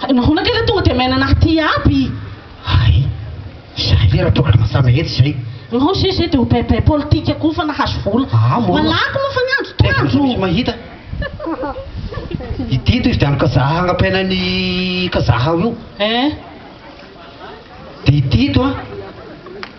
Hay nahoana kay ilay tonga dia miaina anah ity aby? Hay, izahay ve radoradona samy ahery izay? Ianao izay izay dia ho paipai politika koa fa nahazo vola. Aa moa. Malaky moa fa ny andro toa andro. Taiza misy mahita? Ity toy izy dia any Kazaha agnampiaina an'i Kazaha ao io. Eh. Dia ity ito an.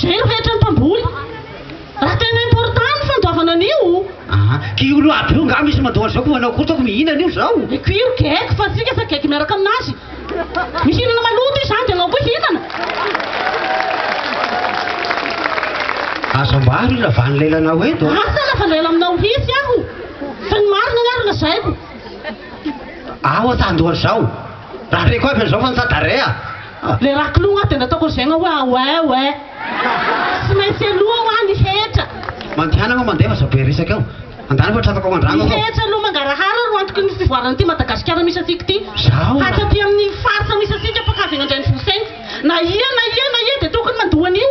Zay rehetra ny mpamboly. Raha tena important ny fandoavana an'io. Aa kiolo aby io nga misy mandoa an'izao ko manao kosa ko mihinana io zao. Ny kiolo geck fa tsika fa geck miaraka aminazy. Mihinana maloto izy zany de anao koa hihinana. Aza ambaro io ravany lelanao eto a. Asa raha fa lela aminao mihitsy aho. Fa ny marina nga ro lazaiko. Aho ata andoha an'izao. Raha reko aby an'izao fa nitsadarea. Le raha kilogna dia nataoko ry zegna hoe away way. Tsy maintsy aloha hoa ny hetra. Mandihanagna hoa mandeha fa zao be resaka eo. Andana fa tratrako ao an-dragno aho. Ny hetra aloha mangarahara no antoky ny fivoaran'ity Madagasikara misy antsika ity. Zao raha. Hatraty amin'ny faritra misy antsika mpankavy any an-drenivohitra any. Na ia na ia na ia dia tokony mandoa an'io.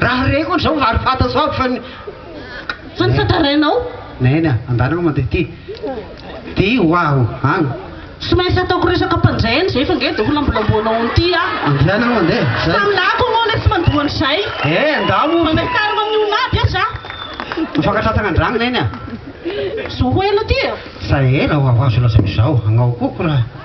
Raha reko hono zao ary fantatro aby fa ny Fa ny fantarainao? Neny a, andalo aloha mandeha ty Ty ho aho agny. Tsy maintsy ataoko resaka mpanjay any zay fa nge de ho lambolamboanao any ty aho. Andehana aloha mandeha, zay. Fa aminà koa moa anie tsy mandoa an'izay. Eh, ndao moa. Mandray karma amin'ny olona aby aza aho. Mifankatrantsana an-dragno neny a. Zao ho ela ty e. Zay ela ho azo lazaina izao, agnaoko koa raha.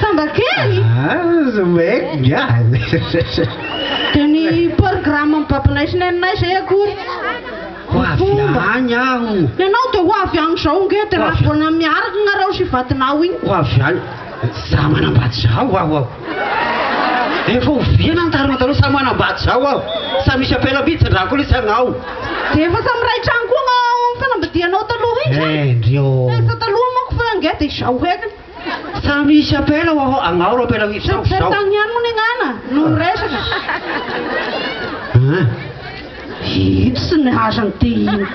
Samba kely? Aza mec galy. Dia ny programme mibabynaisy ny anay izay akory. Ho avy any aho. Ianao dia ho avy any izao nge dia raha vao miaraka nareo sy vadinao iny. Ho avy any. Za manambady za ho aho ao. Efa oviana ny tarina taloha samy manambady zao aho samy misy apela mihintsy andrako lesy agnao. Dia efa samy iray trano koa agnao ao amin'ny fanambadianao taloha iny zany. Hendry ô. Efa taloha manko fa ange dia izao heky. Samy misy apela ho aho agnao ro apela mihintsy zao. Tsy tany ihany moa ny agnana no miresaka. An. Itsy ny hazany ty iny.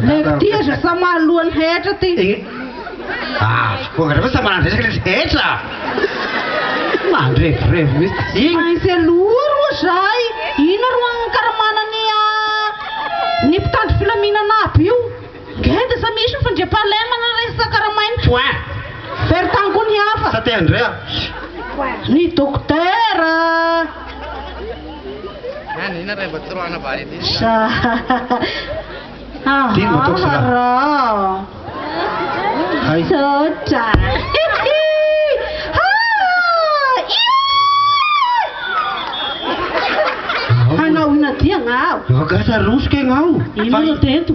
Leko ty aza sa maha lohany hetra ty. Avy koa anareo ve sa manandresaka le hetra? Mandrevirevo mihitsy. Tsy Iny maintsy aloha ro zay. Inona ro ankaramana ny ny mpitandro filaminana aby io? Genda sa misy ny fandriampahalemana resaka ra main point. Very tany koa ny hafa. Sa te handre aho. Ny dokotera. Sa haharao. Misaotra. Hanao inona dian aho. Efa gasy ary rosoka ianao. Inona no atao eto.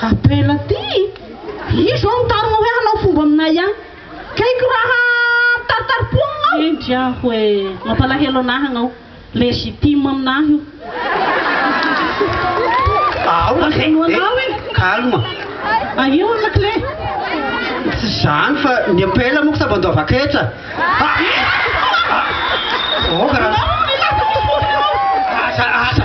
Atrehina ty i. Izy zao mitarina hoe hanao fomba aminay an. Kaiko raha mitaritarim-po aminao. Hendry aho e. Mampalahelo anahy ianao. Legitime aminahy io. Aoka e. Azonao anao e. Calme. Ahio ny lakile. Tsy izany fa ny ampela moa sambany doava ketra. Aoka raha. Aza, aza.